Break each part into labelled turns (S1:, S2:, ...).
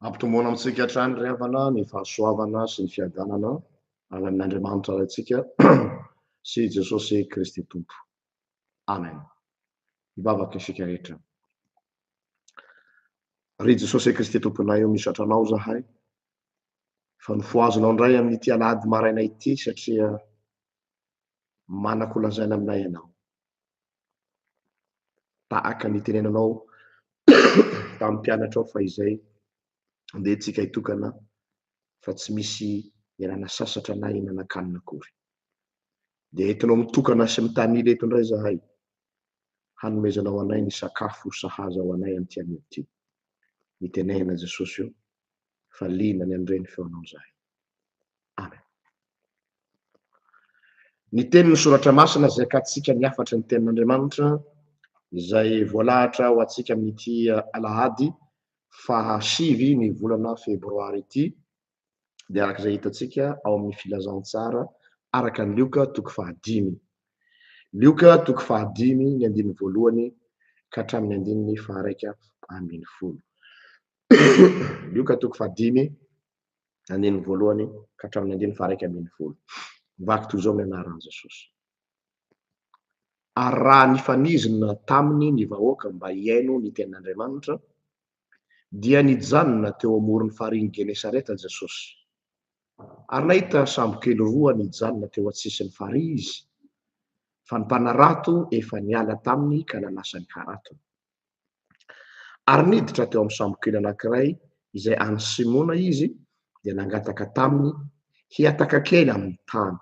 S1: Ampitomboana amintsika hatrany ry havana ny fahasoavana sy ny fiadanana avy amin'Andriamanitra Raintsika sy i Jesosy Kristy Tompo. Amen. Hivavaka isika rehetra. Ry Jesosy Kristy Tomponay o, misaotra Anao zahay fa nofohazinao indray amin'ity alahady maraina ity satria manako lazaina aminay Ianao. tahaka ny tenenanao tamin'ny mpianatrao fahizay, andeha tsika hitokana fa tsy misy ialana sasatra na hihinan-kanina akory. Dia entinao mitokana sy mitanila eto indray zahay, hanomezanao anay ny sakafo sahaza ho anay amin'ity anio ity. Nitenenina Jesosy io fa liana ny an'ireny feonao zahay. Amen. Ny tenin'ny Soratra Masina izay katsika ny hafatry ny Tenin'Andriamanitra izay voalahatra ho antsika amin'ity Alahady faha sivy ny volana Febroary ity dia araka izay hitantsika ao amin'ny Filazantsara araka ny Lioka toko faha dimy. Lioka toko faha dimy ny andininy voalohany ka hatramin'ny andininy faha iraika ambin'ny folo. Lioka toko faha dimy andininy voalohany ka hatramin'ny andininy faharaika ambin'ny folo. Vaky toy izao ny anaran'i Jesosy. Ary raha nifanizina taminy ny vahoaka mba hihaino ny tenin'Andriamanitra, dia nijanona teo amoron'ny farihin'i Genesareta Jesosy. Ary nahita sambokely roa nijanona teo an-tsisin'ny farihy izy, fa ny mpanarato efa niala taminy ka nanasa ny haratony. Ary niditra teo amin'ny sambokely anankiray izay an'i Simona izy, dia nangataka taminy hihataka kely amin'ny tany.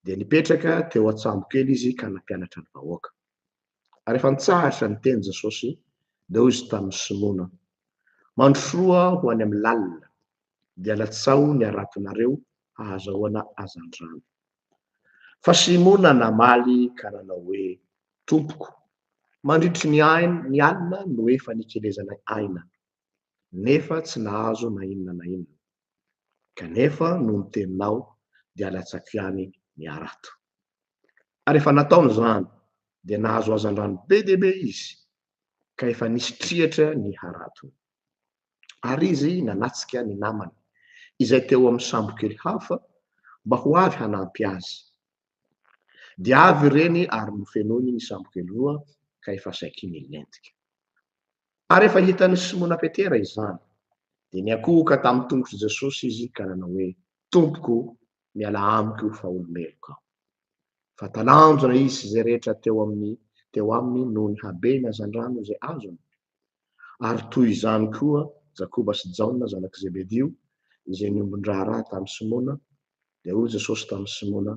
S1: Dia nipetraka teo an-tsambokely izy ka nampianatra ny vahoaka. Ary efa nitsahatra ny teny Jesosy, dia hoy izy tamin'i Simona, Mandrosoa ho any amin'ny lalina, dia latsaho ny haratonareo hahazahoana hazandrano. Fa Simona namaly ka nanao hoe, Tompoko, mandritry ny ny alina no efa nikelezanay aina, nefa tsy nahazo na inona na inona. Kanefa noho ny teninao, dia latsako ihany ny harato. Ary efa nataony izany, dia nahazo hazandrano be dia be izy, ka efa nisy triatra ny haratony. Ary izy nanatrika ny namany, izay teo amin'ny sambokely hafa, mba ho avy hanampy azy. Dia avy ireny ary nofenoiny ny sambokely roa, ka efa saiky nilentika. Ary rehefa hitan'i Simona Petera izany, dia niankohoka tamin'ny tongotr'i Jesosy izy ka nanao hoe, Tompoko, mialà amiko fa olo-meloka aho. fa talanjona izy sy izay rehetra teo amin'ny teo aminy noho ny habeny hazandrano izay azony, ary toy izany koa Jakoba sy Jaona zanak'i Zebedio izay niombon-draharaha tamin'i Simona, dia hoy Jesosy tamin'i Simona,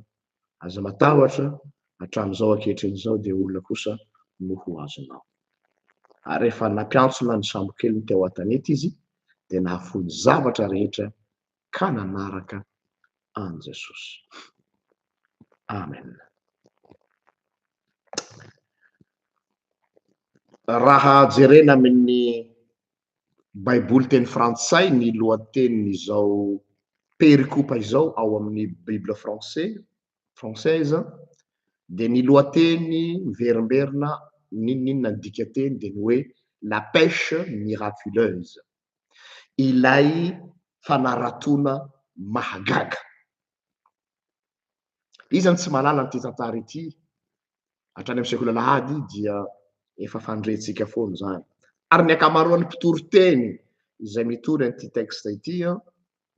S1: Aza matahotra, hatramin'izao ankehitriny izao dia olona kosa no ho azonao. Ary rehefa nampiantsona ny sambokeliny teo an-tanety izy, dia nahafoy ny zavatra rehetra ka nanaraka an'i Jesosy. Amen. Raha jerena amin'ny Baiboly teny frantsay ny lohatenin'izao perikopa izao ao amin'ny Bible français, française, dia ny lohateny miverimberina n'inon'inona ny dikateny dia ny hoe La pêche miraculeuse, ilay fanaratoana mahagaga. Iza no tsy mahalala an'ity tantara ity? Hatrany amin'ny sekoly alahady dia efa fandrentsika foana izany. Ary ny ankamaroan'ny mpitory teny izay mitory an'ity texte ity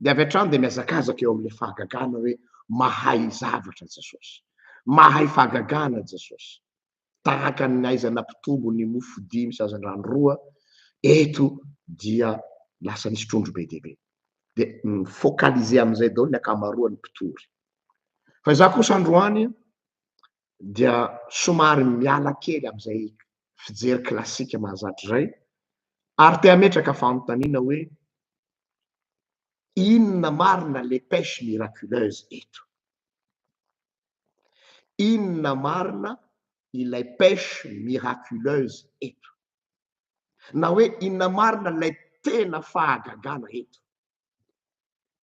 S1: dia avy hatrany dia mihazakazaka eo amin'ilay fahagagana hoe mahay zavatra Jesosy, mahay fahagagana Jesosy. tahaka ny aiza nampitombo ny mofo dimy sy hazandrano roa eto dia lasa nisy trondro be dia be dia mi-focaliser amin'izay daholo ny ankamaroan'ny mpitory fa izaho kosa androany dia somary miala kely amin'izay fijery klasika mahazatra izay ary te hametraka fanontaniana hoe inona marina les pêches miraculeuses eto Inona marina ilay pêche miraculeuse eto? Na hoe inona marina ilay tena fahagagana eto?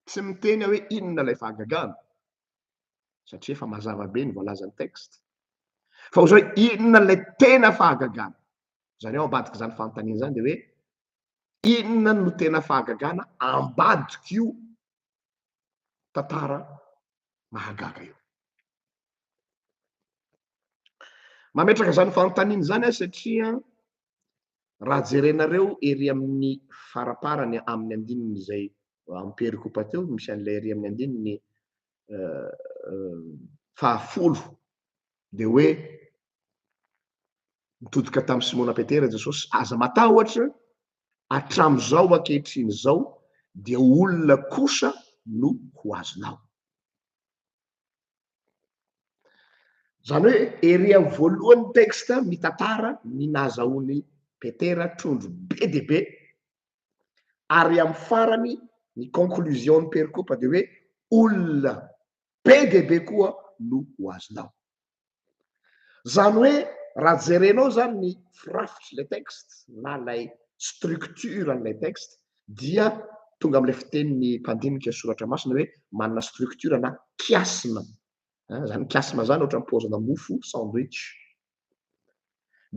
S1: Tsy miteny aho hoe inona ilay fahagagana, satria efa mazava be ny voalazan'ny texte. Fa hoy aho inona ilay tena fahagagana? Izany hoe ao ambadik'izany fanontaniana izany dia hoe inona no tena fahagagana ambadik'io tantara mahagaga io. Mametraka izany fanontaniana izany aho satria raha jerenareo ery amin'ny faraparany amin'ny andininy izay amperiko pateo misy an'ilay ery amin'ny andininy euh, euh, fahafolo dia hoe nitodika tamin'ny Simona Petera Jesosy aza matahotra hatramin'izao ankehitriny izao dia olona kosa no ho azonao. Izany hoe ery amin'ny voalohan'ny texte mitantara ny nahazahoan'i Petera trondro be dia be ary amin'ny farany ny conclusion ny perikopa dia hoe olona be dia be koa no ho azonao. Izany hoe raha jerenao izany ny firafitry ilay texte na ilay structure an'ilay texte dia tonga amin'ilay fitenin'ny mpandinika soratra masina hoe manana structure na kiasma. Izany kiasma izany ohatra ny paozina mofo sandwich.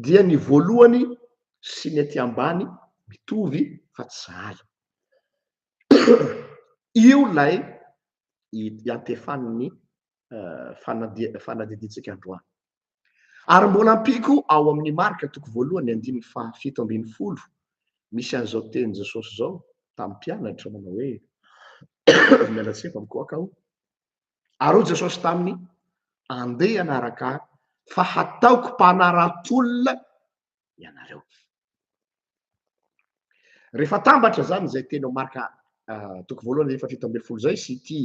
S1: Dia ny voalohany sy ny aty ambany mitovy fa tsy sahala. Io ilay iantefan'ny fanadidintsika androany. Ary mbola ampiko ao amin'ny marika toko voalohany andininy fahafito ambin'ny folo misy an'izao teny Jesosy izao tamin'ny mpianatra manao hoe miala tsy efa mikoaka aho. Ary hoy Jesosy taminy, andeha anaraka fa hataoko mpanara-tolona ianareo. Rehefa atambatra zany izay teny ao Marka ah, toko voalohany efa fito ambin'ny folo zay sy ity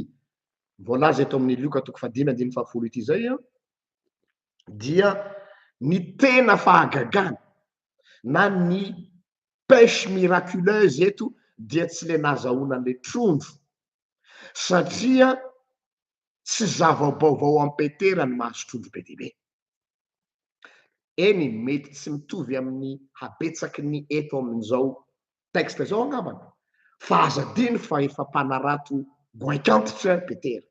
S1: voalaza eto amin'ny Lioka toko fahadimy andininy fahafolo ity zay an, dia ny tena fahagagana na ny pêche miraculeuse eto dia tsy le nazahoana an'le trondro satria tsy zava-baovao amin'i Petera ny mahazo trondro be dia be. Eny, mety tsy mitovy amin'ny habetsaky ny eto amin'izao texte izao angambany, fa aza adino fa efa mpanarato goaik'antitra i Petera.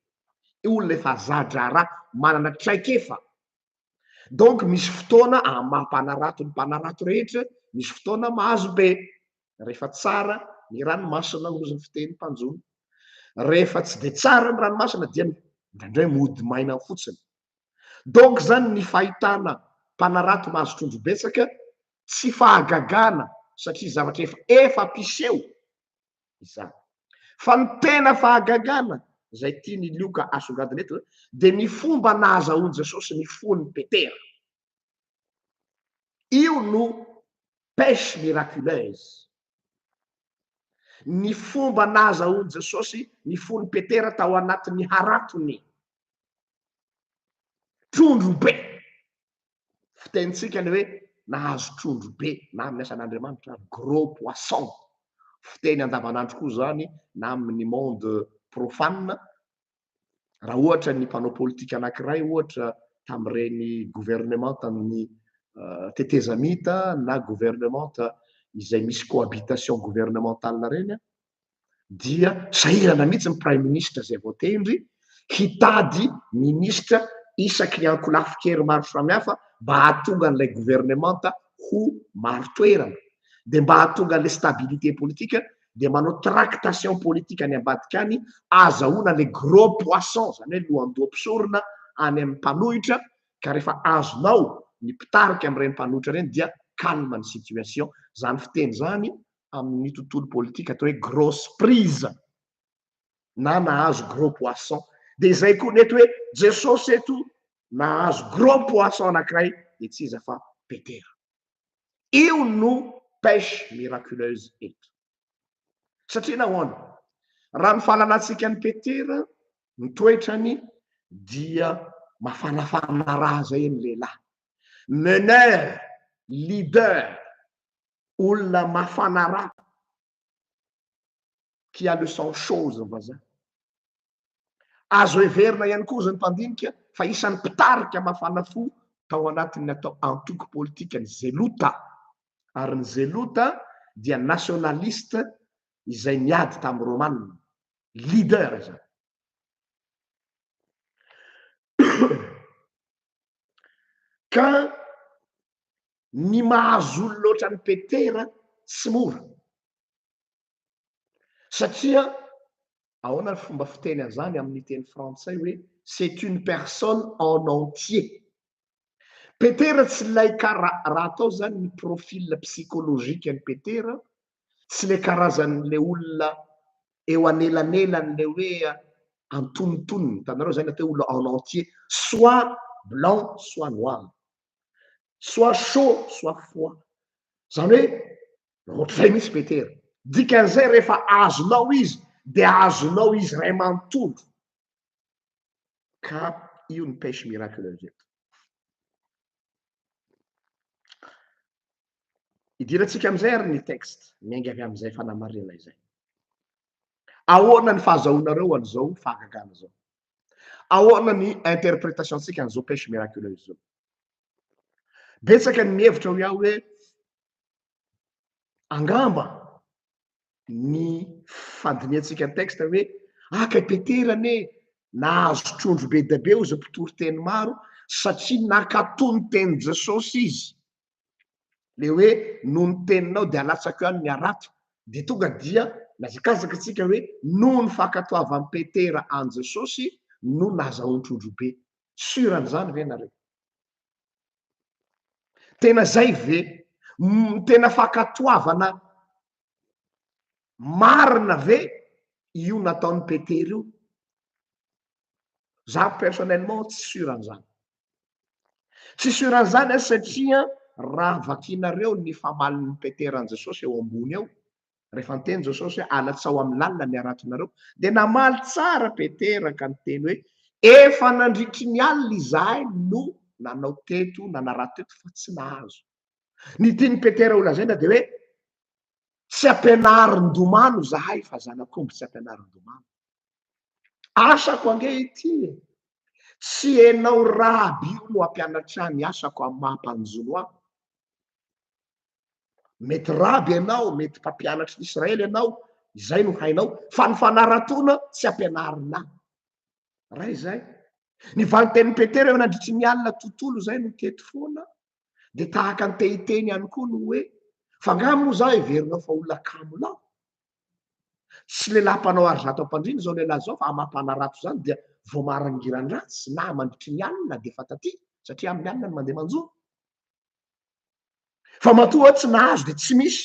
S1: Io olona efa za-draharaha, manana traikefa. Donc misy fotoana amin'ny maha mpanarato ny mpanarato rehetra, misy fotoana mahazo be, rehefa tsara ny ranomasina, hoy ny fiteny mpanjono, rehefa tsy dia tsara ny ranomasina dia indraindray mody maina fotsiny. Donc zany ny fahitana mpanarato mahazo trondro betsaka tsy fahagagana satria zavatra efa efa mpiseho izany. Fa ny tena fahagagana izay tian'i Lioka asongadina eto dia ny fomba nahazahoan'i Jesosy ny fon'i Petera. Io no pêche miraculeuse. Ny fomba nahazahoan'i Jesosy ny fon'i Petera tao anatin'ny haratony. Trondro be! Fitenintsika ilay hoe nahazo trondro be na amin'ny asan'Andriamanitra, gros poisson. Fiteny andavanandro koa izany na amin'ny monde profane, raha ohatra ny mpanao politika anankiray ohatra tamin'ireny gouvernements an'ny tetezamita na gouvernements izay misy cohabitation gouvernementale ireny, dia sahirana mihitsy ny praiminisitra izay voatendry hitady minisitra isaky ny ankolafin-kery maro samihafa mba hahatonga an'ilay governemanta ho marin-toerana, dia mba hahatonga an'ilay stabilité politique dia manao tractation politique any ambadika any, ahazahoana ilay gros poisson, izany hoe lohandoha mpisorona any amin'ny mpanohitra, ka rehefa azonao ny mpitarika amin'ireny mpanohitra ireny dia calme ny situation. Izany fiteny izany amin'ny tontolo politika atao hoe gros prise na nahazo gros poisson dia izay koa ny eto hoe Jesosy eto nahazo gros poisson anankiray dia tsy iza fa Petera. Io no pêche miraculeuse eto. Satria nahoana? Raha ny fahalalantsika an'i Petera, ny toetrany dia mafanafana raha izay ny lehilahy. Meneur, leader, olona mafana rà, qui a le sang chaud hoy ny vazaha. Azo heverina ihany koa hoy ny mpandinika fa isan'ny mpitarika mafana fo tao anatin'ny atao antoko politika ny Zelota, ary ny Zelota dia nationaliste izay niady tamin'ny Romanina, leader izany. Ka Ny mahazo olona ohatran'i Petera tsy mora. Satria ahoana ny fomba fiteny an'izany amin'ny teny frantsay hoe c'est une personne en entier. Petera tsy ilay kara raha atao izany ny profil psychologique an'i Petera, tsy ilay karazan'ilay olona eo anelanelan'ilay hoe antonontonony, hitanareo izay ny atao hoe olona en entier, soit blanc soit noir. soit chaud soit froid zany hoe ohatr'izay mihitsy petera dikan'izay rehefa azonao izy de azonao izy ray manontolo ka io ny pêche miraculeuse eto idirantsika amin'izay ary ny texte miainga avy amin'izay fanamarina izay ahoana ny fahazahoanareo an'izao fahagagana zao Ahoana ny interpretation-tsika an'izao pêche miraculeuse izao? Betsaka ny mihevitra hoy aho hoe angamba ny fandinihantsika ny texte hoe aka i Petera anie nahazo trondro be dia be hoy izao mpitory teny maro satria nakato ny tenin'i Jesosy izy. le hoe noho ny teninao dia alatsako ihany ny harato dia tonga dia nihazakazaka tsika hoe noho ny fankatoavan'i Petera an'i Jesosy no nazahoan-trodrobe. Sur an'izany ve nareo? Tena zay ve? Tena fankatoavana marina ve io nataon'i Petera io? za personnellement tsy sur an'izany tsy sur an'izany aho satria raha vakinareo ny famalin'ny petera an'i jesosy eo ambony eo rehefa niteny jesosy hoe alatsao amin'ny lalina ny haratonareo dia namaly tsara petera ka niteny hoe efa nandritry ny alina izahay no nanao teto nanarato teto fa tsy nahazo ny tian'i petera ho lazaina dia hoe tsy ampianarin-domano izahay fa zanak'omby tsy ampianarin-domano Asako ange ity e! Tsy enao raby io no ampianatry ahy ny asako amin'ny maha mpanjono ahy. Mety raby enao, mety mpampianatry ny Israely enao, izay no hainao, fa ny fanaratoana tsy ampianarina ahy. Raha izay, ny valintenin'i Petera eo nandritry ny alina tontolo izay no teto foana, dia tahaka ny te hiteny ihany koa no hoe fa nga moa za heverinao fa olona kamo laho tsy lehilahy mpanao ary zato ampandrina izao lehilahy zao fa amam-panarato zany dia vao marangiran-dratsy na mandritry ny alina dia efa taty satria amin'ny alina ny mandeha manjono fa matoa tsy nahazo dia tsy misy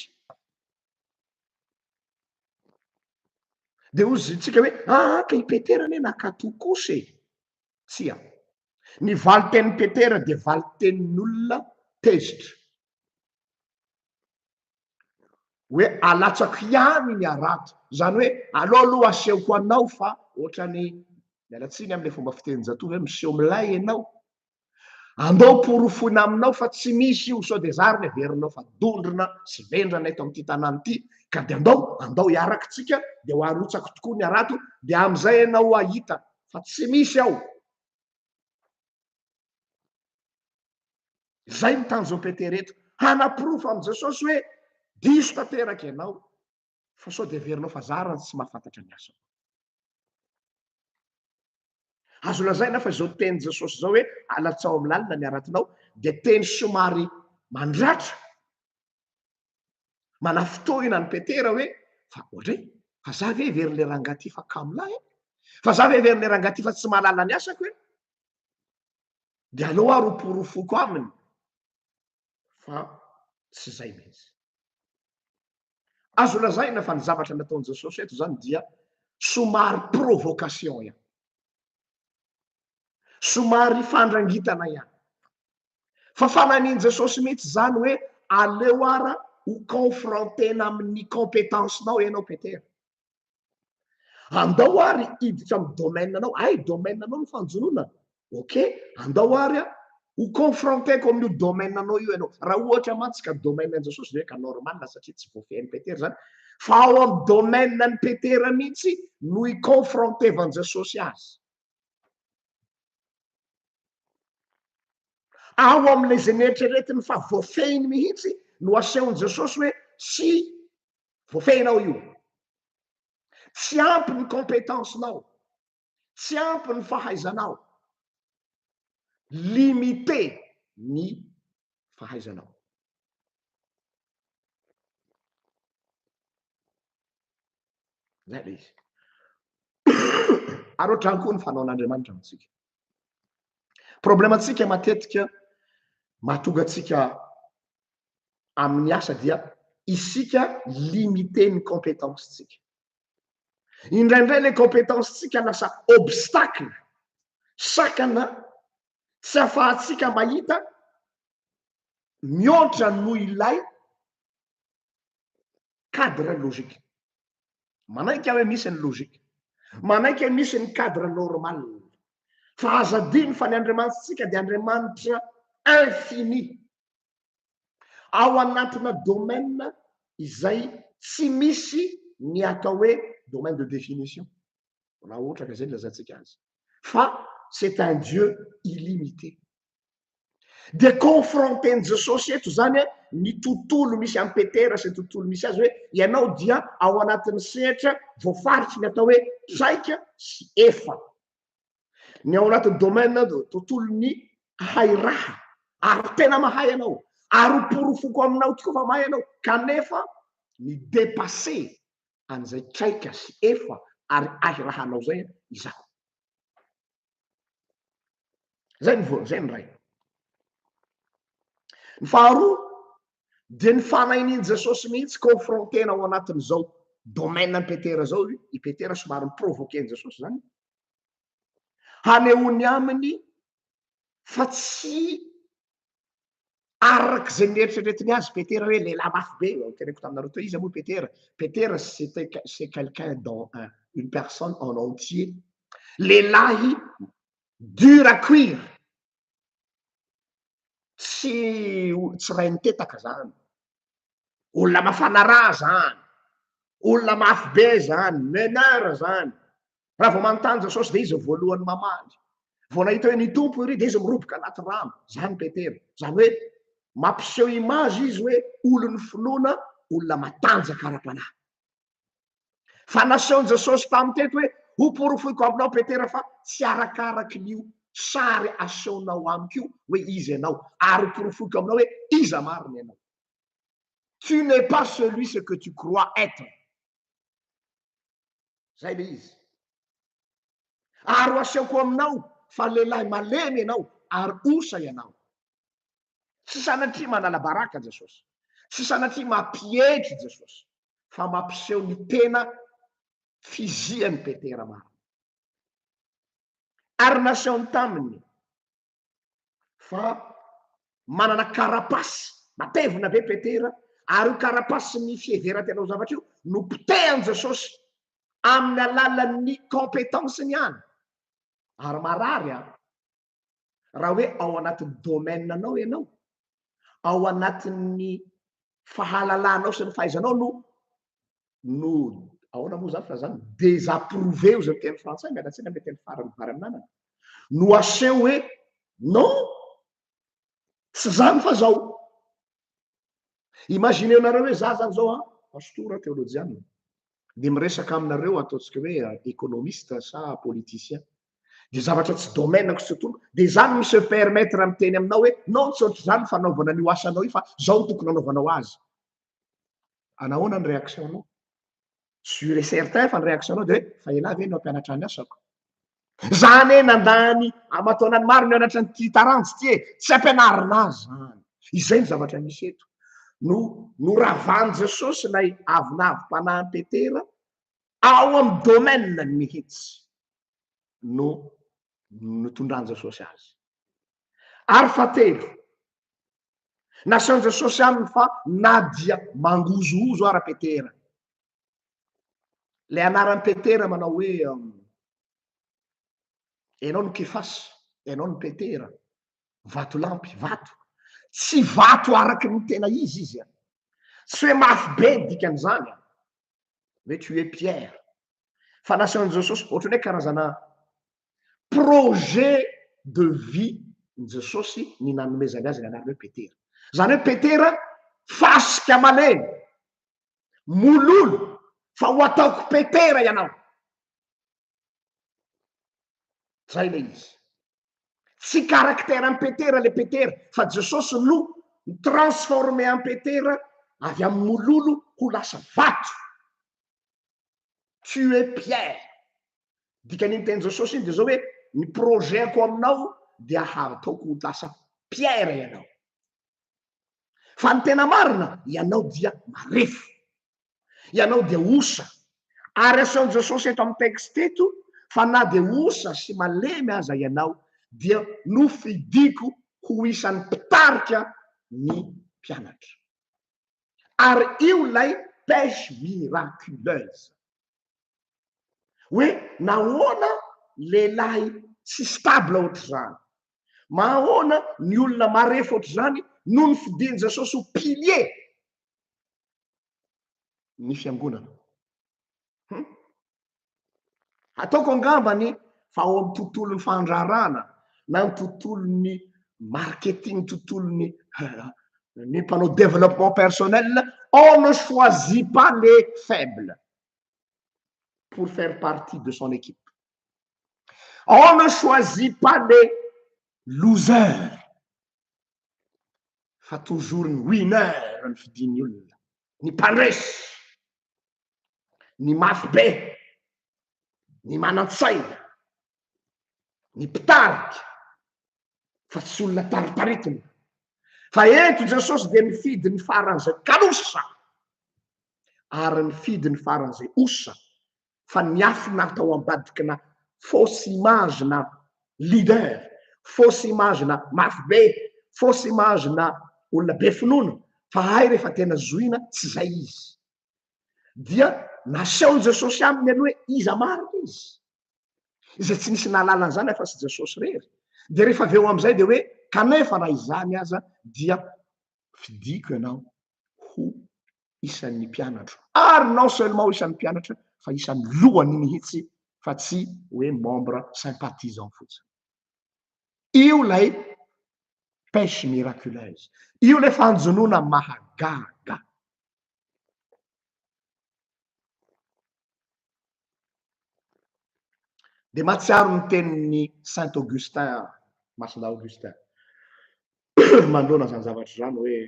S1: dia hoy izy tsika hoe aa ah, ka i petera anie nakato kosa e Tsia. Ny valin-tenin'i Petera dia valin-tenin'olona tezitra. Hoe alatsako ihany ny harato. Izany hoe aleo aloha asehoko anao fa ohatran'ny, miala tsiny amin'ilay fomba fitenin-jatovo hoe miseho milay ianao. Andao porofoina aminao fa tsy misy io sao dia izaho ary no heverinao fa dondrona sy vendrana eto amin'ity tanàna ity ka dia andao, andao hiaraka isika dia ho arotsako tokoa ny harato dia amin'izay ianao hahita fa tsy misy ao. Izay ny tanjon'i Petera eto, hanaporofo amin'i Jesosy hoe diso tanteraka ianao, fa sao dia heverinao fa zara ny tsy mahafantatra ny asako. Azo lazaina fa izao tenin'i Jesosy izao hoe alatsao amin'ny lalina ny haratinao dia teny somary mandratra Manafintohina an'i Petera hoe, fa ohatra hoe, fa za ve heverin'ilay rangahy ity fa kamo lahy e? Fa za ve heverin'ilay rangahy ity fa tsy mahalala ny asako e? Dia aleo aho ro porofoko aminy fa tsy izay mihitsy. Azo lazaina fa ny zavatra nataon'i Jesosy eto izany dia somary provocation ihany. Somary fandrangitana ihany. Fa fananian'i Jesosy mihitsy izany hoe aleo ara ho confronter-na amin'ny compétence-nao ianao Petera. Andao ary hiditra amin'ny domaine-nao, hay domaine-nao ny fanjonoana, ok, andao ary a, ho confronter-ko amin'io domaine-nao io ianao. Raha ohatra mantsy ka domaine-n'i Jesosy ve ka normal satria tsy voafehin'i Petera izany, fa ao amin'ny domaine-n'i Petera mihitsy no hi-confronter-van'i Jesosy azy. Ao amin'ilay izay neritreretiny fa voafehiny mihitsy no asehon'i Jesosy hoe tsy voafehinao io. Tsy ampy ny compétence-nao, tsy ampy ny fahaizanao, limité ny fahaizanao. Izay ilay izy. Ary ohatrany koa ny fanaon'Andriamanitra amintsika. Problemantsika matetika mahatonga antsika amin'ny asa dia isika limité ny compétence-tsika. Indraindray ilay compétence-tsika lasa obstacle, sakana, tsy ahafahantsika mahita mihoatra noho ilay cadre logique. Manaiky aho hoe misy ny logique. Manaiky hoe misy ny cadre normal. Fa aza adino fa ny Andriamanitsika dia Andriamanitra infini. Ao anatina domaine izay tsy misy ny atao hoe domaine de définition, raha ohatra ka izay no lazaintsika azy. Fa c'est un Dieu illimité. Dia confronter-n'i Jesosy eto izany ny tontolo misy an'i Petera sy ny tontolo misy azy hoe ianao dia ao anatin'ny sehatra voafaritry ny atao hoe traika sy efa. Ny ao anatin'ny domaine tontolon'ny hahay raha ary tena mahay ianao ary ho porofoko aminao tokoa fa mahay ianao kanefa ny dépasser an'izay traika sy efa ary hahy rahanao izay izaho. zay ny voany zay ny ray ny faharoa de ny fanahin'iny jesosy mihitsy confrontena ao anatin'izao domaine an'i petera zao i i petera somary miprovoquer an'i jesosy zany hanehoany aminy fa tsy araka izay nieritreretiny azy Petera hoe lehilahy mafy be, eo teneniko taminareo teo, iza moa Petera? Petera c'était c'est quelqu'un dans un, une personne en entier, lehilahy dur à cuire, tsy tsy raha nitetaka zany, olona mafana rà zany, olona mafy be zany, meneur zany, Raha vao manontany Jesosy dia izy voalohany mamaly. Vao nahita hoe ny Tompo iry dia izy miroboka anaty rano, izany Petera. Izany hoe mampiseho image izy hoe olon'ny finoana, olona matanjaka ara-panahy. Fa nasehon'i Jesosy tamin'ny teto hoe hoporofoiko aminao Petera fa tsy arakaraky ny sary asehonao amiko io hoe iza ianao ary hoporofoiko aminao hoe iza marina ianao. Tu n'es pas celui ce que tu crois être. zay le izy ary ho asehoko aminao fa lehilahy malemy ianao ary osa ianao tsy sanatria manala-baraka Jesosy tsy sanatria mampietry Jesosy fa mampiseho ny tena fizian'i Petera marina ary nasehony taminy fa manana karapasy matevina be petera ary io karapasy ny fiheveran-tena ho zavatra io no potehan'i Jesosy amin'ny alalan'ny compétence-ny ihany ary marary a raha hoe ao anatin'ny domaine anao ianao ao anatin'ny fahalalanao sy ny fahaizanao no no ahoana moa izany filazana désapprouver izay teny frantsay miala tsiny amin'ny teny farany vary amin'anana no aseho hoe non tsy izany fa zao imagineo nareo hoe za zany zao a pastora teolojianina dia miresaka aminareo ataontsika hoe économiste sa politicien dia zavatra tsy domaine-ko tsy tokony dia izany mi se permettre miteny aminao hoe non tsy ohatr'izany fanaovana an'io asanao io fa zao no tokony anaovanao azy Ana ahoana ny réaction nao? Sur et certain fa ny réaction nao de hoe fa elah ve no hampianatra ny asako? Za anie nandà any aman-taonany maro nianatra an'ity taranja ity e! Tsy ampianarina ahy zany. Izay ny zavatra misy eto. No noravan'i Jesosy ilay avonavim-panahin'i Petera ao amin'ny domaine-ny mihitsy no nitondran'i Jesosy azy. Ary fahatelo, na sciences sociales fa na dia mangozohozo ara petera le anaran'i petera manao hoe ianao no kefasy ianao no petera vato lampy vato tsy vato araky ny tena izy izy a tsy hoe mafy be ny dikan'izany a hoe tu es Pierre. Fa nasan'i Jesosy ohatran'ny hoe karazana projet de vie ny Jesosy ny nanomezany azy ny anarana hoe Petera. Izany hoe Petera fasika malemy, mololo fa ho ataoko Petera ianao. Zay le izy. Tsy caractère an'i Petera le Petera fa Jesosy no mi-transformer an'i Petera avy amin'ny mololo ho lasa vato. Tu es Pierre. Dikan'iny teny Jesosy iny dia zao hoe ny projet-ko aminao dia hataoko ho lasa Pierre ianao. Fa ny tena marina, ianao dia marefo. Ianao dia osa. Ary aseho Jesosy eto amin'ny texte eto fa na dia osa sy malemy aza ianao dia nofidiko ho isan'ny mpitarika ny mpianatra. Ary io ilay pêche miraculeuse. Hoe nahoana lehilahy tsy stable ohatr'izany, mahaona ny olona marefo ohatr'izany no nofidin'i Jesosy ho pilier ny fiangonana. Hum. Ataoko angambany fa ao amin'ny tontolon'ny fandraharahana na ny tontolon'ny marketing, tontolon'ny ny mpanao développement personnel, on ne choisit pas les faibles pour faire partie de son équipe. On ne choisit pas les losers fa toujours ny winner ny fidiny olona ny mpandresy ny mafy be ny manan-tsaina ny mpitarika fa tsy olona taritaritina fa eto jesosy dia nifidy ny faran'izay kalosa ary nifidy ny faran'izay osa fa niafina tao ambadikina fausse image na leader, fausse image na mafy be, fausse image na olona be finoana, fa hay rehefa tena zohina tsy zay izy. Dia nasehon'i Jesosy aminy aloha hoe iza marina izy, izay tsy nisy nahalala an'izany afa-tsy Jesosy irery, dia rehefa avy eo amin'izay dia hoe kanefa na izany aza dia fidiko ianao ho isan'ny mpianatro ary non seulement isan'ny mpianatra fa isan'ny lohany mihitsy fa tsy hoe membre sympathisant fotsiny. Io ilay pêche miraculeuse. Io ilay fanjonoana mahagaga. Dia mahatsiaro ny tenin'ny Saint Augustin aho, Masina Augustin, manoloana izany zavatra izany hoe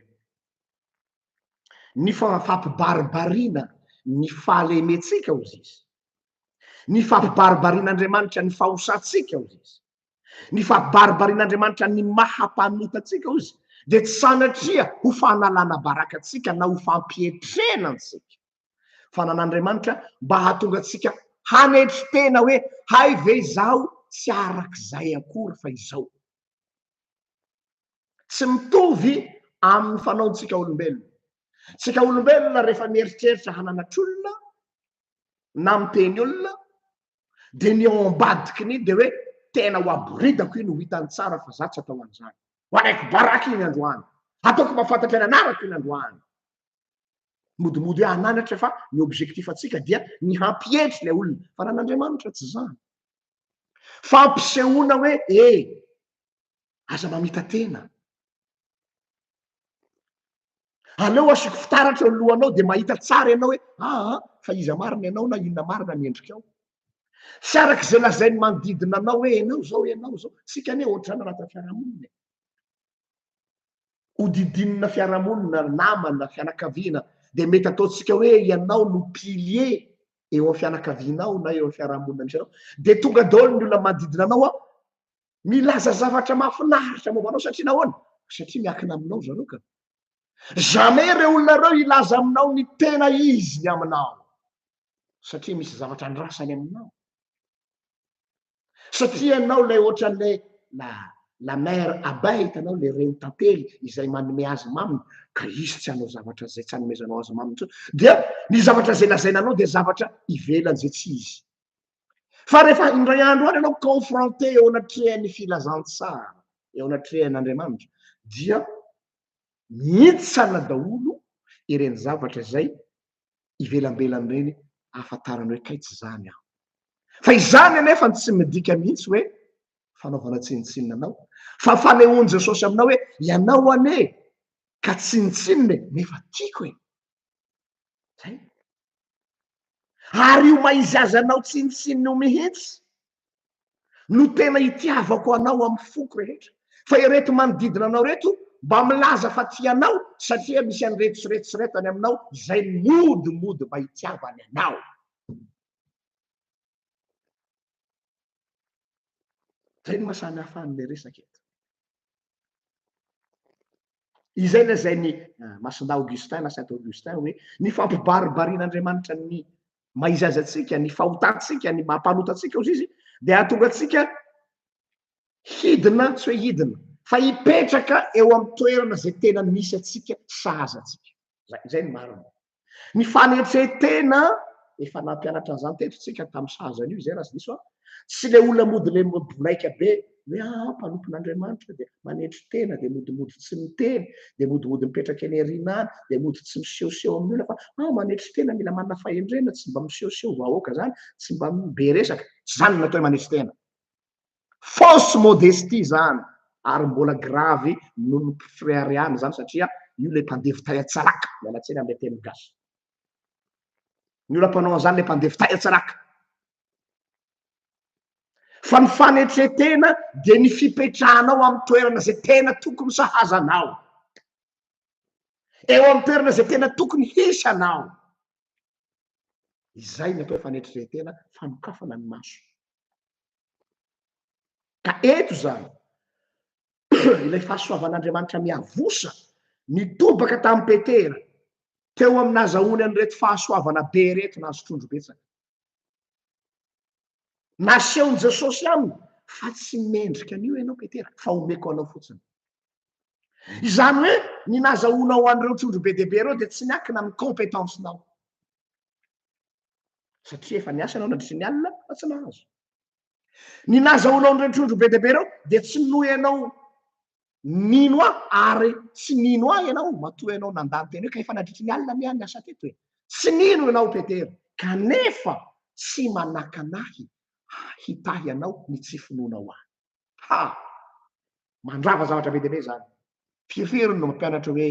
S1: ny fampibaribarina ny fahalementsika, hoy izy, ny fampibaribarin'Andriamanitra ny fahosantsika, hoy izy, ny fampibaribarin'Andriamanitra ny maha-mpanota antsika, hoy izy, dia tsy sanatria ho fanalana baraka antsika na ho fampietrena antsika. Fananan'Andriamanitra mba hahatonga antsika hanetry tena hoe hay ve izaho tsy araka izay akory fa izao. Tsy mitovy amin'ny fanaontsika olombelona. Tsika olombelona rehefa mieritreritra hananatr'olona na miteny olona dia ny ao ambadiky ny dia hoe tena ho aboridako iny ho hitany tsara fa za tsy atao an'izany. Ho alaiko baraka iny androany. Ataoko mba fantatry ny anarako iny androany. Modimody hoe ananatra fa ny objectif antsika dia ny hampihedry ilay olona. Fa ny an'Andriamanitra tsy izany. Fampisehoana hoe e! Aza mamita-tena. Aleo asiako fitaratra eo ny lohanao dia mahita tsara ianao hoe aa fa iza marina ianao na inona marina ny endrikao. Tsy araka izay lazain'ny manodidina anao hoe ianao izao, ianao izao. Isika anie ohatrany raha tafaramonina e! hodidinina fiarahamonina, namana, fianakaviana, dia mety ataontsika hoe ianao no pilier eo amin'ny fianakavianao na eo amin'ny fiarahamonina misy anao, dia tonga daholo ny olona manodidina anao an, milaza zavatra mahafinaritra momba anao satria nahoana? Satria miankina aminao zareo ka. Jamais ireo olona ireo hilaza aminao ny tena izy ny aminao satria misy zavatra andrasany aminao. satria ianao ilay ohatran'ilay la la mère abeille hitanao le reny tantely izay manome azy maminy ka izy tsy hanao zavatra zay tsy anomezanao azy maminy intsony dia ny zavatra zay lazaina anao dia zavatra ivelany zay tsy izy fa rehefa indray andro any ianao confronté eo anatrehan'ny filazantsara eo anatrehan'Andriamanitra dia mitsana daholo ireny zavatra izay ivelambelany ireny ahafantarany hoe kay tsy izany aho. Fa izany anefa no tsy midika mihitsy hoe fanaovana tsinontsinona anao, fa fanehoan'i Jesosy aminao hoe ianao anie ka tsinontsinona e, nefa tiako e. Zay. Ary io maizy azy anao tsinontsinona io mihitsy no tena itiavako anao amin'ny foko rehetra, fa ireto manodidina anao ireto mba milaza fa tia anao satria misy an'ireto sy ireto sy ireto any aminao izay mody mody mba hitiavany anao. Izay no maha samy hafa an'ilay resaka eto. Izay lazain'i eh, Masindahy Augustin na Saint Augustin hoe ny fampibaribarin'Andriamanitra ny mahaizazy antsika, ny fahotantsika, ny maha-mpanota antsika hozy izy, dia hahatonga antsika hidina, tsy hoe hidina, fa hipetraka eo amin'ny toerana izay tena misy antsika, sahaza antsika. Izay, izay ny marina. Ny fanetren-tena, efa nampianatra an'izany teto isika tamin'ny sahaza an'io izay raha tsy diso aho, tsy ilay olona mody le mbonaika be, hoe ah, ah mpanompon'Andriamanitra dia manetry tena, dia modimody tsy miteny, dia modimody mipetraka eny aoriana any, dia mody tsy misehoseho amin'ny olona fa ah, manetry tena mila manana fahendrena, tsy mba misehoseho vahoaka izany, tsy mba be resaka, tsy izany no natao manetry tena. Fausse modestie izany ary mbola gravy noho ny fireharehana izany satria io ilay mpandevo tahian-tsaraka, miala tsiny amin'ilay teny gasy. Ny olona mpanao an'izany ilay mpandevo tahian-tsaraka. Fa ny fanetren-tena dia ny fipetrahanao amin'ny toerana izay tena tokony sahaza anao, eo amin'ny toerana izay tena tokony hisy anao. Izay ny atao hoe fanetren-tena, fanokafana ny maso. Ka eto izany, ilay fahasoavan'Andriamanitra miavosa, nitobaka tamin'i Petera, teo amin'ny nahazahoany an'ireto fahasoavana be ireto nahazo trondro betsaka. Nasehon'i Jesosy aminy fa tsy mendrika an'io ianao Petera, fa omeko anao fotsiny. Izany hoe ny nazahoanao an'ireo trondro be dia be ireo dia tsy miankina amin'ny compétence-nao. Satria efa niasa ianao nandritra ny alina fa tsy nahazo. Ny nazahoanao an'ireo trondro be dia be ireo dia tsy noenao nino aho ary tsy nino ahy ianao matoa ianao nandà ny teny hoe ka efa nadritry ny alina miha ny asa teto e. Tsy nino ianao Petera kanefa tsy manakana ahy hitahy anao ny tsy finoanao ahy. Ha! Mandrava zavatra be dia be izany. Firy firy no mampianatra hoe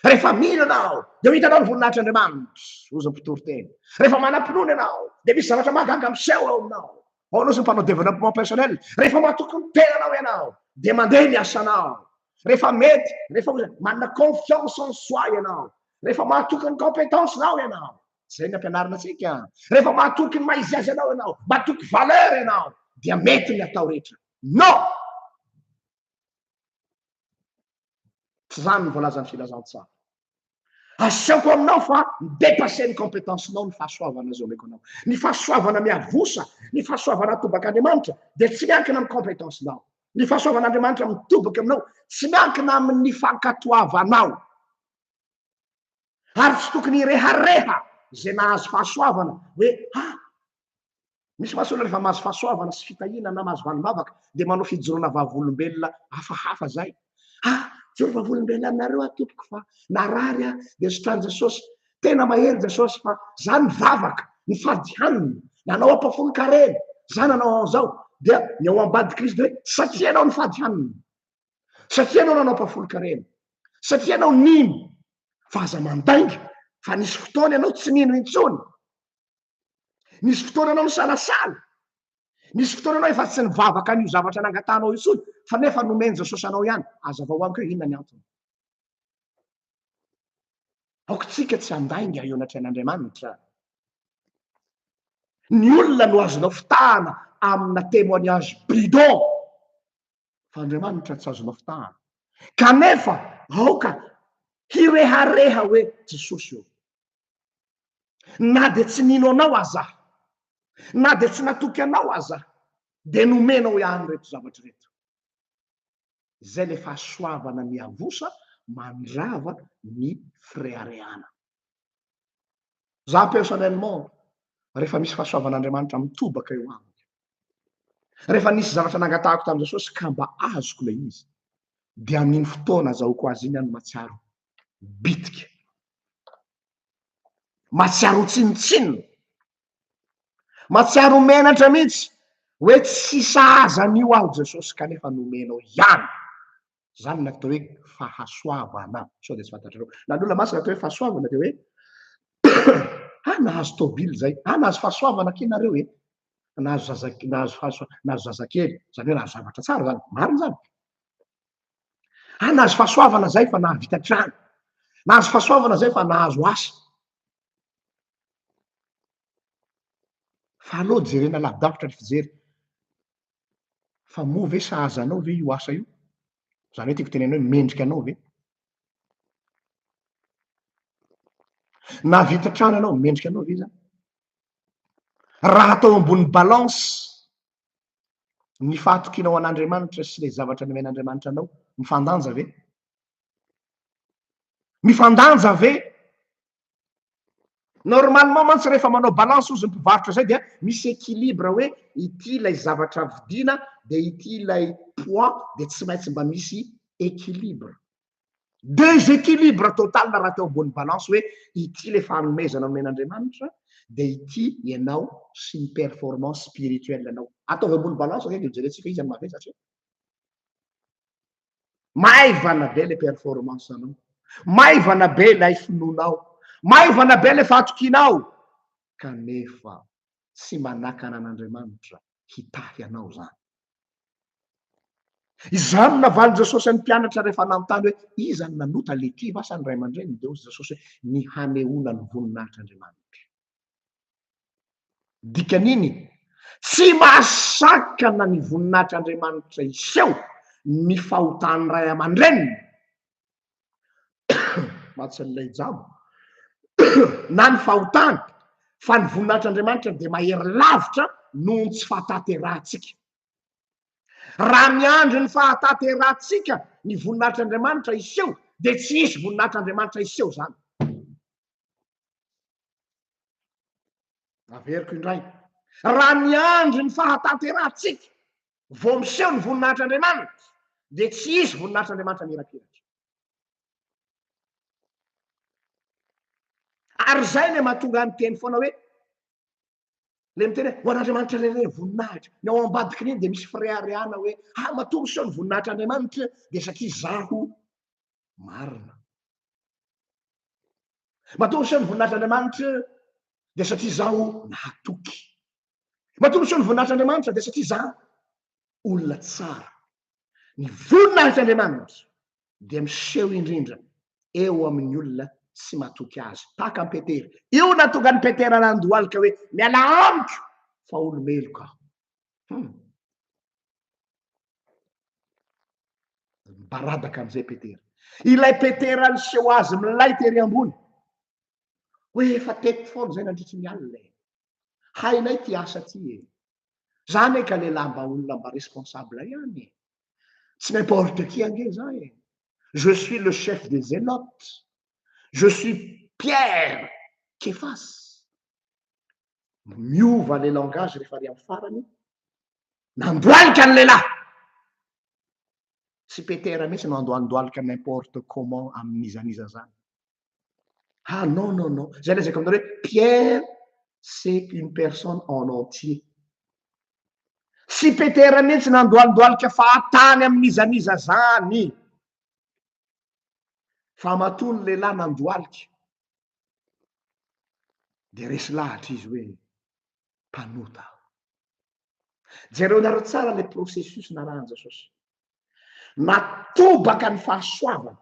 S1: Rehefa mino ianao, dia ho hitanao ny voninahitr'Andriamanitra, hoy ny mpitory teny. Rehefa manam-pinoana ianao, dia misy zavatra mahagaga miseho ao aminao. Ahoana ozy ny mpanao développement personnel? Rehefa matoky ny tenanao ianao, dia mandeha ny asanao. Rehefa mety, rehefa ozy manana confiance en soi ianao, rehefa mahatoky ny compétence nao ianao, izay ny ampianarina antsika. Rehefa mahatoky ny maha izy azy anao ianao, matoky valeur ianao, dia mety ny atao rehetra. Non! Tsy zany ny voalazan'ny filazantsara. Asehoko aminao fa mi-dépasser ny compétence-nao ny fahasoavana izay omeko anao. Ny fahasoavana miavosa, ny fahasoavana atobak'Andriamanitra dia tsy miankina amin'ny compétence-nao. Ny fahasoavan'Andriamanitra mitobaka aminao, tsy miankina amin'ny fankatoavanao. Ary tsy tokony hirehareha izay nahazo fahasoavana hoe, ah, Misy mantsy olona rehefa mahazo fahasoavana sy fitahiana na mahazo valim-bavaka dia manao fijoroana vavolombelona hafahafa izay. Ah, joro vavolombelona aminareo aho tompoko fa narary aho dia sotran'i Jesosy. Tena mahery Jesosy fa za nivavaka, nifady hanina, nanao ampafolon-karena, za nanao an'izao. Dia ny ao ambadik'i Kristy hoe satria ianao nifady hanina, satria ianao nanao ampafolon-karena, satria ianao nino fa aza mandainga fa nisy fotoana ianao tsy nino intsony. Nisy fotoana anao nisalasala, nisy fotoana anao efa tsy nivavaka an'io zavatra nangatahanao intsony fa nefa nomen Jesosy anao ihany, azavao amiko hoe inona ny antony. Aoka tsika tsy handainga eo anatrehan'Andriamanitra. Ny olona no azonao fitahana amina témoignage bidon. fa Andriamanitra tsy azo nafitahana. Kanefa aoka hirehareha hoe Jesosy ô, na dia tsy nino anao aza aho, na dia tsy natoky anao aza aho, dia nomenao ihany ireto zavatra ireto. Izay ilay fahasoavana miavosa mandrava ny fireharehana. Za personnellement rehefa misy fahasoavan'Andriamanitra mitobaka eo amiko, rehefa nisy zavatra nangatahako tamin'i Jesosy ka mba azoko ilay izy, dia amin'iny fotoana azahoako azy iny aho no mahatsiaro bitika, mahatsiaro ho tsinontsinona, mahatsiaro ho menatra mihitsy hoe tsy sahaza an'io aho Jesosy kanefa nomenao ihany Izany ilay atao hoe fahasoavana. Sao dia tsy fantatrareo. Na ny olona masina atao hoe fahasoavana dia hoe ah nahazo taovily izay, ah nahazo fahasoavana akia nareo e, nahazo zaza nahazo fahasoa nahazo zazakely, izany hoe nahazo zavatra tsara izany, marina izany. Ah nahazo fahasoavana izay fa nahavita trano, nahazo fahasoavana izay fa nahazo asa. Fa aleo jerena lavidavitra ny fijery. fa moa ve sahaza anao ve io asa io? Izany hoe tiako tenenina hoe mendrika anao ve? Nahavita trano ianao, mendrika anao ve izany? Raha atao ambony balance ny fahatokianao an'Andriamanitra sy ilay zavatra nomen'Andriamanitra anao, mifandanja ve? Mifandanja ve Normalement mantsy rehefa manao balance ozy ny mpivarotra zay dia misy equilibre hoe ity ilay zavatra vidiana dia ity ilay poids dia tsy maintsy mba misy equilibre. Desequilibre total raha teo ambony balance hoe ity ilay fanomezana nomen'Andriamanitra dia ity ianao sy ny performance spirituelle anao. Ataovy ambony balance zay dia hojerentsika iza no mahavery satria. Maivana be le performance anao. Maivana be ilay finoanao. Maivana be le fatokianao. Kanefa tsy manakana an'Andriamanitra hitahy anao zany. Izany no navalin'i Jesosy an'ny mpianatra rehefa nanontany hoe iza no nanota, le kivy va sa ny ray aman-dreniny? Dia hoy Jesosy hoe ny hanehoana ny voninahitr'Andriamanitra. Dikan'iny, tsy mahasakana ny voninahitr'Andriamanitra hiseho ny fahotan'ny ray aman-dreniny, mahatsin'ilay jamba, na ny fahotany, fa ny voninahitr'Andriamanitra dia mahery lavitra noho ny tsy fahatanterahantsika. Raha miandry ny fahatanterahantsika ny voninahitr'Andriamanitra hiseho, dia tsy hisy voninahitr'Andriamanitra hiseho izany. Averiko indray, raha miandry ny fahatanterahantsika vao miseho ny voninahitr'Andriamanitra, dia tsy hisy voninahitr'Andriamanitra mirapiratra. Ary izay ilay mahatonga ahy miteny foana hoe, ilay miteny hoe ho an'Andriamanitra irery ny voninahitra, ny ao ambadiky ny eny dia misy fireharehana hoe, ah, matoa miseho ny voninahitr'Andriamanitra, dia satria izaho marina. Matoa miseho ny voninahitr'Andriamanitra dia satria izaho nahatoky. Matoa miseho ny voninahitr'Andriamanitra dia satria izaho olona tsara. Ny voninahitr'Andriamanitra dia miseho indrindra eo amin'ny olona tsy matoky azy, tahaka an'i Petera. Io no nahatonga an'i Petera nandohalika hoe, Mialà amiko, fa olo-meloka aho. Hmm. Mibaradaka amizay Petera. Ilay Petera niseho azy milay tery ambony. Hoe efa teto foana zay nandritry ny alina e. Hainay ty asa ty e. Za anie ka lehilahy mba olona mba responsable ihany e. Tsy n'importe qui ange za e. Je suis le chef des zélotes. Je suis Pierre Kefas. Miova le langage rehefa ary amin'ny farany Nandohalika ny lehilahy! Tsy Petera mihitsy no handohalika n'importe comment amin'iza n'iza zany. Ha non non non, zay lazaiko aminareo hoe Pierre c'est une personne en entier. Tsy Petera mihitsy nandohaldohalika fahatany amin'iza n'iza zany. Fa matoa ny lehilahy nandohalika dia resy lahatra izy hoe mpanota aho. Jereonareo tsara ilay processus narahan'i Jesosy. Natobaka ny fahasoavany.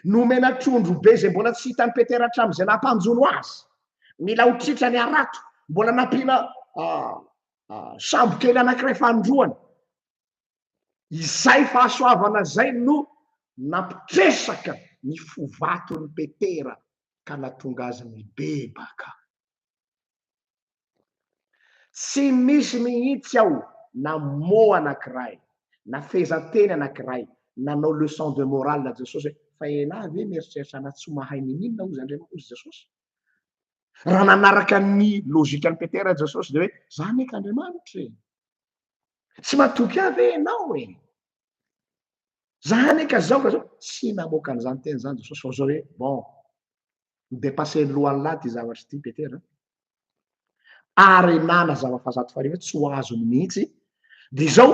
S1: Nomena trondro be izay mbola tsy hitan'i Petera hatramin'izay nampanjono azy. Mila ho tritra ny harato. Mbola nampiana ah, ah, sambo kely anankiray fanindroany. Izay fahasoavana izay no nampitresaka ny fo vaton'i Petera ka natonga azy nibebaka. Tsy misy mihitsy ao na mot anankiray, na fehezanteny anankiray, nanao leçon de morale Jesosy hoe, fa ialahy ve mieritreritra anà tsy mahay ny inona hozy Andriamanitra, hozy Jesosy? Raha nanaraka ny logikan'i Petera Jesosy dia hoe, za anie k'Andriamanitra e! Tsy matoky ahy ve ianao e? Za anie ka zao ka zao, tsy namoaka an'izany teny izany Jesosy fa zao hoe bon, mi-depasser ny lohan'ny lahy ity zavatra ity Petera. Arenana zava fahazato fahariva tsy ho azony mihitsy. Dia izao,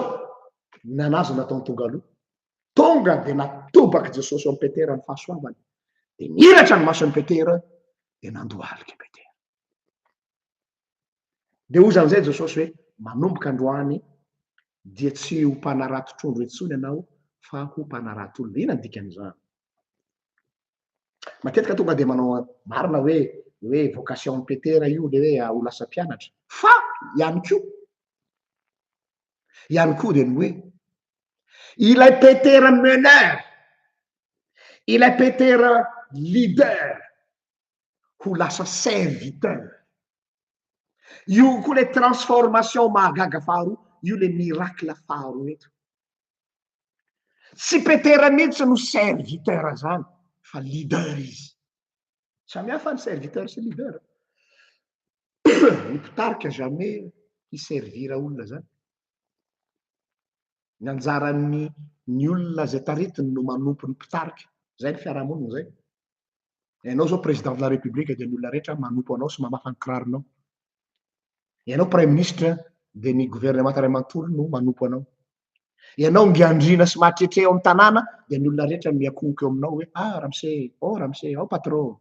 S1: nanazy nataony tonga aloha. Tonga dia natobak'i Jesosy eo amin'i Petera ny fahasoavany. Dia niratra ny mason'i Petera dia nandohalika i Petera. Dia hoy izany izay Jesosy hoe, Manomboka androany dia tsy ho mpanarato trondro intsony ianao fa ho mpanarato olona. Inona ny dikan'izany? Matetika tonga dia manao marina hoe hoe vocation Petera io le hoe ho lasa mpianatra. Fa ihany koa ihany koa dia ny hoe ilay Petera meneur, ilay Petera leader, ho lasa serviteur. Io koa le transformation mahagaga faharoa, io le miracle faharoa eto. Tsy Petera mihitsy no serviteur zany fa leader izy. Samy hafa ny serviteur sy leader. Ny mpitarika jamais hiservir olona zany. Ny anjaran'ny ny olona zay taritiny no manompo ny mpitarika. Zay ny fiarahamonina zay. Ianao izao Président de la République dia ny olona rehetra manompo anao sy mamafa ny kiraronao. Ianao Praiminisitra dia ny governemanta iray manontolo no manompo anao. Ianao ngiandriana sy mahatretre ao amin'ny tanàna dia ny olona rehetra miakongoka eo aminao hoe ah Ramse, oh Ramse, oh Patro.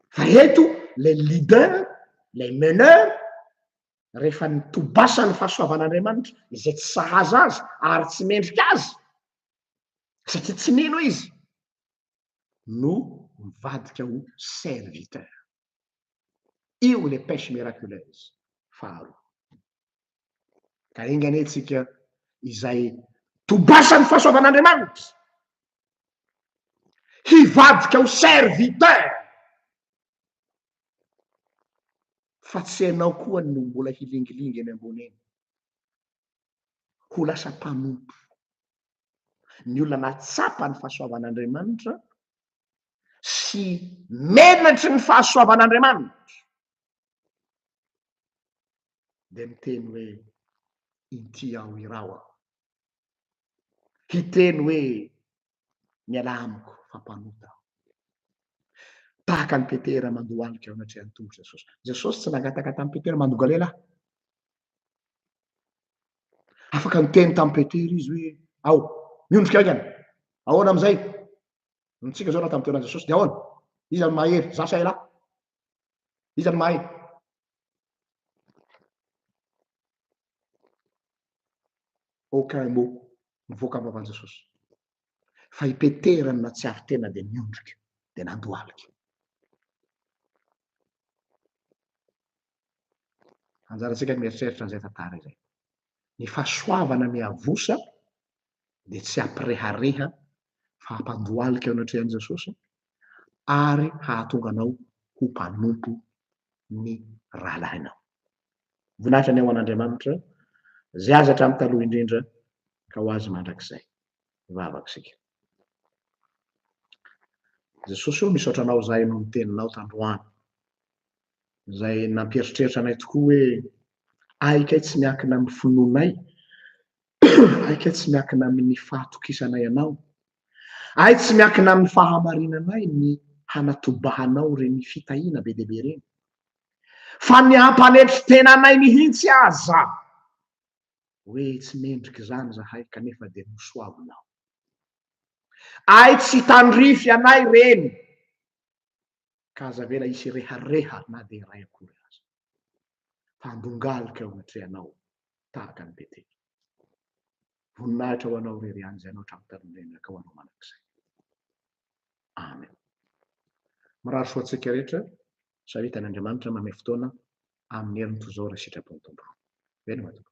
S1: Fa eto ilay leader, ilay meneur, rehefa nitobasa ny fahasoavan'Andriamanitra izay tsy sahaza azy ary tsy mendrika azy satria tsy nino izy no mivadika ho serviteur. Io le pêche miraculeuse faharoa. Ka enga anie tsika izay tobasan'ny fahasoavan'Andriamanitra hivadika ho serviteur fa tsy ianao koa no mbola hilingilingy eny ambony eny. ho lasa mpanompo. Ny olona nahatsapa ny fahasoavan'Andriamanitra sy menatry ny fahasoavan'Andriamanitra dia miteny hoe, Inty aho, iraho aho. Hiteny hoe, Mialà amiko fa mpanota aho. Tahaka an'i Petera mandohalika eo anatrehan'ny tongotr'i Jesosy. Jesosy tsy nangataka tamin'i Petera mandonga lehilahy. Afaka niteny tamin'i Petera izy hoe, ao, miondrika haingana. Ahoana amin'izay? Nitsika izao na tamin'ny toeran'i Jesosy dia ahoana? Iza no mahery? Izaho sa ialahy? Iza no mahay? Aucun mot mivoaka am-bavan Jesosy fa i Petera no natsiaro tena dia niondrika dia nandohalika. Anjarantsika ny mieritreritra an'izay tantara izay. Ny fahasoavana miavosa dia tsy hampirehareha fa hampandohalika eo anatrehan'i Jesosy ary hahatonga anao ho mpanompo ny rahalahinao. Voninahitra ny ao an'Andriamanitra izay azy hatramin'ny taloha indrindra ka ho azy mandrakizay. Mivavaka isika. Jesosy ô, misaotra anao izahay noho ny teninao tandroany izay nampieritreritra anay tokoa hoe ahy kay tsy miankina amin'ny finoanay Aika tsy miankina amin'ny fahatokisanay Anao. Ay tsy miankina amin'ny fahamarinanay ny hanatobahanao ireny fitahiana be dia be ireny. Fa ny hampanetry tena anay mihitsy aza hoe tsy mendrika izany zahay kanefa dia nosoavinao. Ay tsy tandrify anay ireny. ka aza avela hisy rehareha na dia iray akory aza. Fa andongalika ao anatrehanao tahaka ny Betela. Voninahitra ho anao irery ihany izay anao hatramin'ny tanin'ny reniraka ho anao mandrakizay. Amen. Mirary soa antsika rehetra sa hitan' Andriamanitra mame fotoana amin'ny heriny toy izao raha sitrapon'ny Tompo. Veloma Tompo.